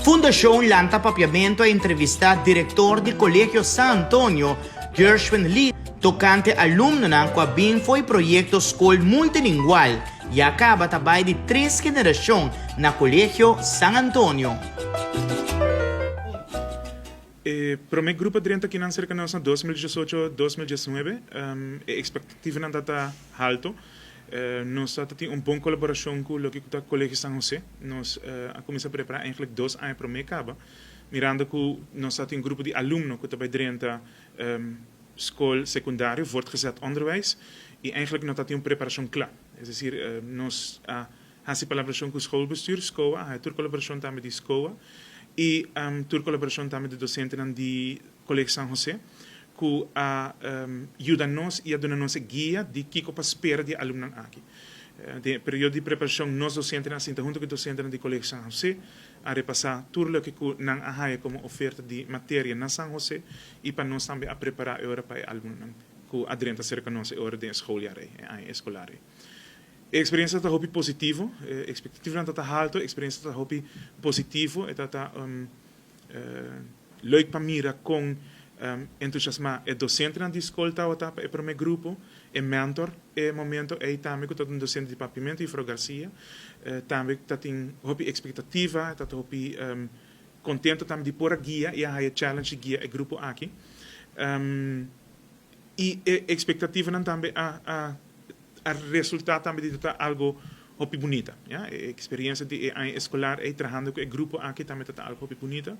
Fundashon lanta papiamentu a entrevistá direktor di Kolegio San Antonio, Gershwin Lee, tokante alumnonan ku a bin fo'i proyekto Skol Multilingual ya kaba ta bai di tres generashon na Kolegio San Antonio. E promé grupo drenta kinan serka nos na dos mil diesocho, dos mil diesnuebe, e ekspektativanan ta ta halto. Nos a ta tin un bon kolaborashon ku loke ku ta Kolegio San Hosé. Nos a kuminsá prepará eigentlek dos aña promé kaba, mirando ku nos a tin grupo di alumno ku ta bai drenta skol sekundario, voortgezet onderwijs, i eigentlek no ta tin un preparashon kla. Es desir, nos a Hasi colaboracion cu schoolbestuur, scoa, a hae tur colaboracion tambe di scoa y tur colaboracion tambe di docentenan di Colegio San Jose cu a yuda nos y a duna nos e guia di kico pa spera di e alumnan aki. Den e periodo di preparacion nos docentenan a sinta hunto cu e docentenan di Colegio San Jose, a repasa tur loke cu nan a hae como oferta di materia na San Jose y pa nos tambe a prepara e ora pa e alumnan cu a drenta cerca nos e ora den e schooljaar ey, e aña escolar ey. E experiencia ta hopi positivo, e expectativanan ta ta halto, e experiencia ta ta hopi positivo, e ta ta leuk pa mira con entusiasma e docentenan di scol tawata pa e prome grupo, e mentor e momento ey tambe cu ta un docente di Papiamento, Juffrouw Garcia, tambe ta tin hopi expectativa, ta ta hopi contento tambe di por a guia y a haya challenge di guia e grupo aki. Y e expectativanan tambe a a resulta tambe di tata algo hopi bunita. Ya, e experiencia di e aña escolar ey trahando cu e grupo aki tambe tata algo hopi bunita.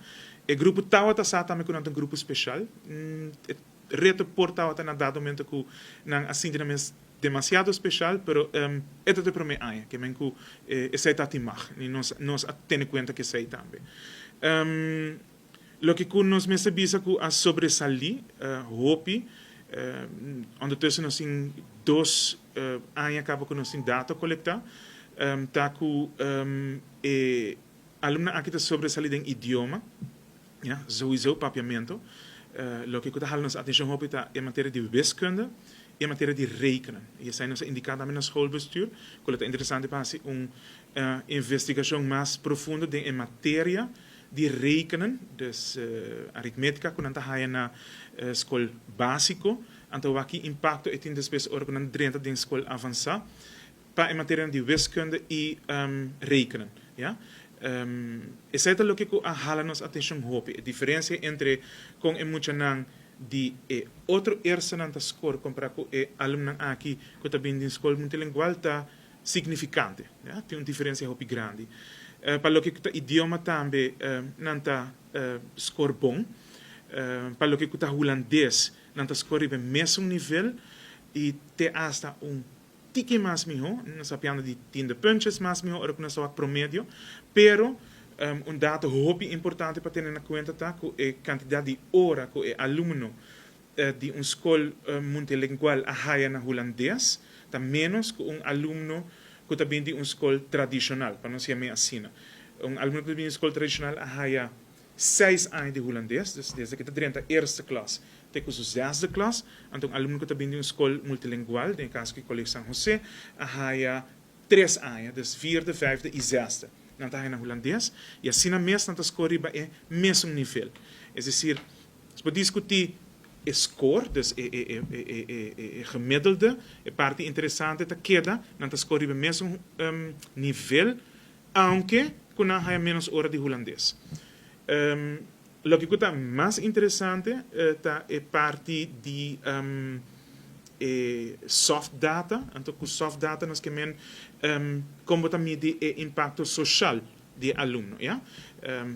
E grupo tawata sa tambe cu nan ta un grupo special. E reto por tawata na dado momento cu nan a sinti nan mes demasiado special, pero e ta ta e prome aña ke men cu esey ta timag y nos nos a tene cuenta cu esey tambe. Loke ku nos mester bisa ku a sobresalí hopi ondertussen nos tin dos aña kaba ku nos tin data kolektá, ta ku e alumnan aki ta sobresalí den idioma, ya, souiso papiamento. Loke ku ta hala nos atenshon hopi ta e materia di wiskunde i e materia di rekenen. I esei nos a indiká tambe na schoolbestuur ku lo ta interesante pa hasi un investigashon mas profundo den e materia di rekenen, dus aritmetika ku nan ta haya na skol básiko, anto wak ki impakto e tin despues ora ku nan drenta den skol avansá pa e materianan di wiskunde i rekenen. Ya. Esei ta loke ku a hala nos atenshon hopi, e diferensia entre kon e muchanan di e otro eerstenan ta skor kompará ku e alumnan aki ku ta bini di un skol multilingual ta signifikante. Tin un diferensia hopi grandi. Pa loke ku ta idioma tambe nan ta skor bon. Pa loke ku ta hulandes nan ta skor riba e mesun nivel i te asta un tiki mas mihó. Nan sapiando di tin de punches mas mihó ora ku nan sa wak promedio. Pero un dato hopi importante pa tene na kuenta ta ku e kantidat di ora ku e alumno di un skol muntilingual a haya na hulandes ta ménos ku un alumno ku ta bini di un skol tradishonal, pa nos yam'é asina. Un alumno ku ta bini di un skol tradishonal a haya seis aña di hulandes, dus desde ku e ta drenta eerste klas te ku su zesde klas. Anto un alumno ku ta bini di un skol multilingual, den e kaso ku e Kolegiu San Hosé, a haya tres aña, dus vierde, vijfde i zesde. Nan ta haya na hulandes i asina mes nan ta skor riba e mesun nivel. Es desir. Por diskutí e skor, dus e gemiddelde. E parti interesante ta keda nan ta skor riba mesun nivel, aunke ku nan haya ménos ora di hulandes. Loke ku ta mas interesante ta e parti di e soft data, anto ku soft data nos ke men kon bo ta midi e impakto soshal. di e alumno. Ya.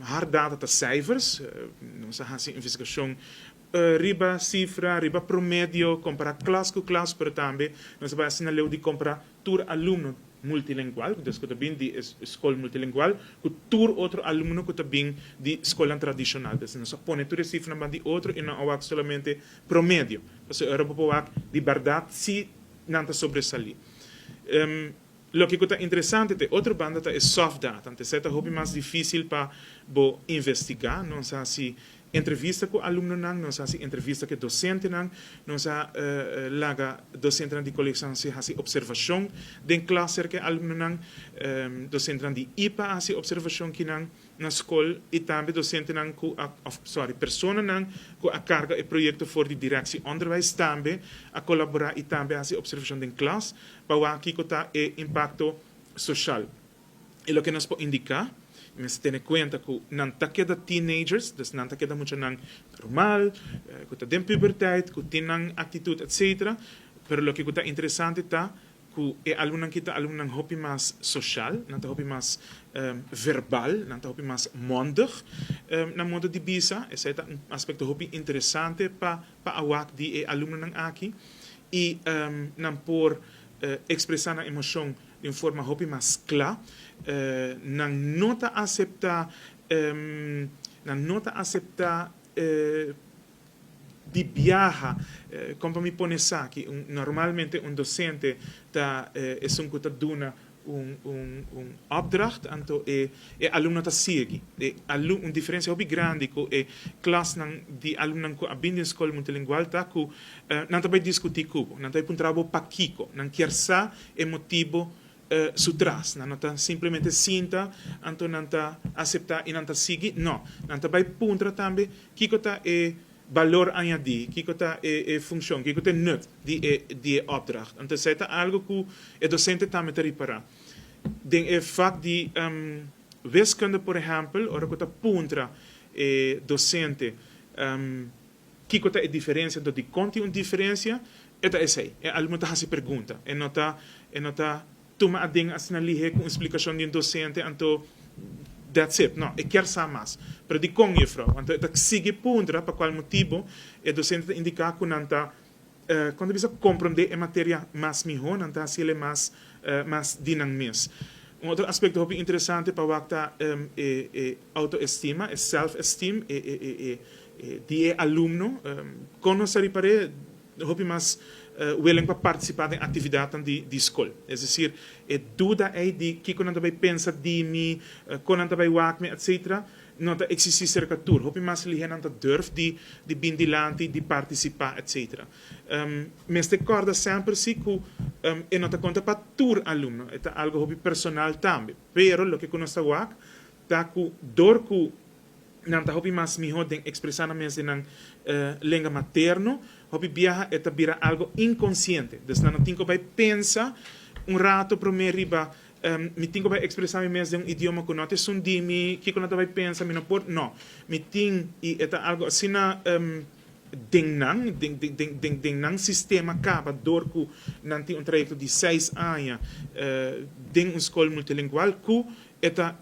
Hard data ta sijfers. Nos a hasi investigashon riba sifra, riba promedio, kompará klas ku klas, pero tambe nos a bai hasi na leu di kompará tur alumno multilingual, ku desku ta bin di e skol multilingual, ku tur otro alumno ku ta bin di skolnan tradishonal. Entonces nos a pone tur e sifranan banda di otro i no a wak solamente promedio, pasobra ora bo por wak di bèrdat si nan ta sobresalí. Loke ku ta interesante ta e otro banda ta e soft data, anto esei ta hopi mas difísil pa bo investigá. Nos a hasi entrevista ku alumnonan, nos a hasi entrevista ku e dosentenan, nos a laga dosentenan di Colegio San José hasi observashon den klas serka e alumnonan, dosentenan di ipa a hasi observashon kinan. na skol i tambe dosentenan ku a, òf sòri, personanan ku a karga e proyekto for di direkshi onderwijs tambe a kolaborá i tambe a hasi opservashon den klas pa wak kiko ta e impakto soshal i loke nos por indiká. Mester tene kuenta ku nan ta keda teenagers, dus nan ta keda muchanan normal, ku ta den puberteit, ku tin nan aktitut etsetera, pero loke ku ta interesante ta Ku e alumnan ki ta alumnan hopi mas sosial, nan ta hopi mas verbal, nan ta hopi mas mondig na modo di bisa. Esei ta un aspekto hopi interesante pa pa awak di e alumnonan aki. I nan por ekspresá nan emoshon di un forma hopi mas kla. Nan no ta aseptá, nan no ta aseptá. di biaha, kon pa mi pone esaki, normalmente un dosente ta esun ku ta duna un opdracht anto e alumno ta sigui, un diferensia hopi grandi ku e klasnan di alumnonan ku a bin den skol multilingual ta ku nan ta bai diskutí ku bo, nan ta bai puntra bo pakiko, nan kier sa e motibu su tras. Nan no ta simplemente sinta anto nan ta aseptá i nan ta sigui. No. Nan ta bai puntra tambe kiko ta e balor añadí, kiko ta e funshon, kiko ta e nut di e opdracht. Anto esei ta algu ku e dosente tambe ta ripará. Den e vak di Wiskunde, por ehèmpel, ora ku ta puntra e dosente Kiko ta e diferensia? Anto di kon tin un diferensia? E ta esei, e alumno ta hasi pergunta, e no ta e no ta tuma aden asina lihe ku un splikashon di un dosente, anto dats it, no, e kier sa mas. Pero di kon, Jufrou? Anto e ta sigui puntra pa kual motibu e dosente ta indiká ku nan ta Kon ta bisa komprondé e materia mas mihó? Nan ta hasiel e mas mas di nan mes. Un otro aspekto hopi interesante pa wak ta e outoestima, e self-esteem, di e alumno. Kon nos a ripar'é? Hopi mas welen pa partisipá den aktividatnan di skol. Es desir, e duda ei di kiko nan ta bai pensa di mi, kon nan ta bai wak mi, etcétera, No ta existi cerca tur. Hopi mas lihenan ta durf di di bin dilanti, di participa etc. Mester corda semper si cu e no ta conta pa tur alumno, e ta algo hopi personal tambe. Pero loke cu nos ta wak ta cu dor cu nan ta hopi mas miho den expresa nan mes den nan lenga materno, hopi biaha e ta bira algo inconsciente. Dus nan no tin cu bay pensa un rato prome riba Mi tin ku bai ekspresá mi mes den un idioma ku no ta esun di mi, kiko nan ta bai pensa, mi no por, no. Mi tin, i e ta algu asina den nan, den nan sistema kaba dor ku nan tin un trayekto di seis aña den un skol multilingual ku e ta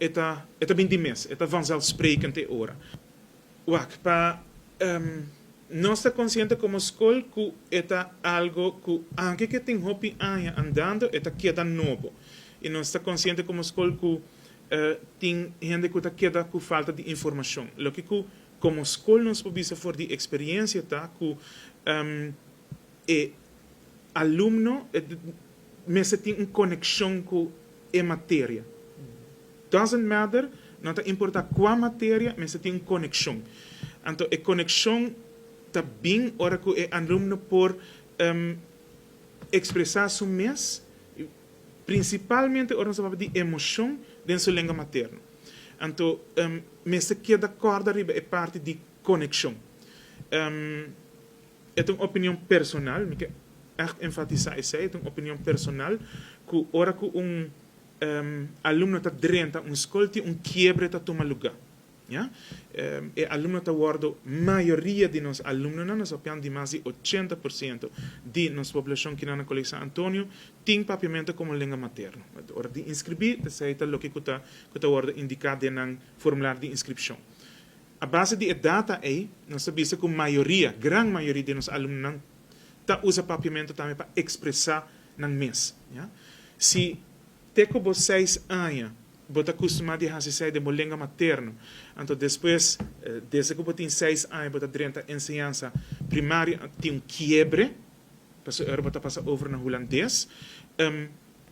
bin di mes, e ta vanzelfsprekend e ora. Wak, pa nos ta konsiente komo skol ku e ta algo ku anke ke tin hopi aña andando e ta keda nobo. I nos ta konsiente komo skol ku tin hende ku ta keda ku falta di informashon. Loke ku komo skol nos por bisa for di eksperiensia ta ku e alumno mester tin un konekshon ku e materia. Doesn't matter, no ta importá kua materia, mester tin un konekshon. Anto e konekshon ta bin ora ku e alumno por ekspresá su mes, prinsipalmente ora nos ta papia di emoshon, den su lengua materno. Anto mester keda kòrda riba e parti di konekshon. E ta un opinion personal, mi ke ègt enfatisá esei, e ta un opinion personal, ku ora ku un alumno ta drenta un skol tin un kiebre ta tuma lugá. Ya. E alumno ta wòrdu mayoria di nos alumnonan, nos papian di mas di ochenta por siento di nos poblashon kinan na Kolegio San Antonio tin Papiamentu komo lenga materno. Ora di inskribí, esei ta loke ku ta ku ta wòrdu indiká den nan formular di inskripshon. A base di e data ei, nos ta bisa ku mayoria, gran mayoria di nos alumnonan ta usa papiamentu tambe pa ekspresá nan mes. Si te ku bo seis aña bo ta kustumá di hasi esei den bo lengua materno, anto despues desde ku bo tin seis aña bo ta drenta enseñansa primaria tin un kiebre, pasobra bo ta pasa over na hulandes.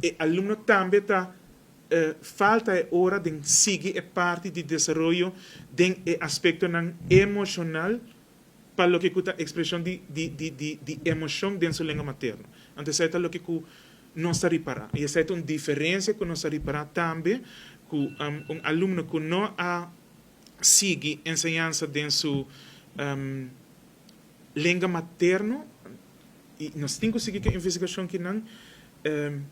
E alumno tambe ta. E falta e ora den sigui e parti di desaroyo den e aspectonan emocional pa loke cu ta expresion di emocion den su lengua materno. Anto esey ta loke cu nos ta ripara. Y esey ta un diferencia cu nos ta ripara tambe cu un alumno cu no a sigui enseñansa den su. lenga materno y nos tin cu sigui cu e investigacion ki nan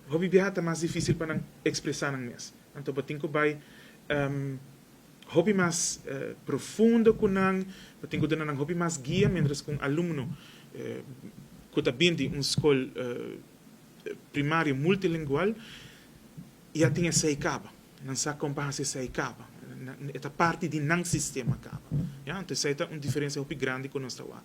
hopi biaha ta mas dificil pa nan expresa nan mes. Anto bo tin cu bay hopi mas profundo cu nan, bo tin cu duna nan hopi mas guia mientras cu un alumno cu ta bini di un scol primario multilingual E a tin esei kaba. Nan sa kon pa hasi esei kaba. E ta parti di nan sistema kaba. Ya, anto esei ta un diferensia hopi grandi ku nos ta wak.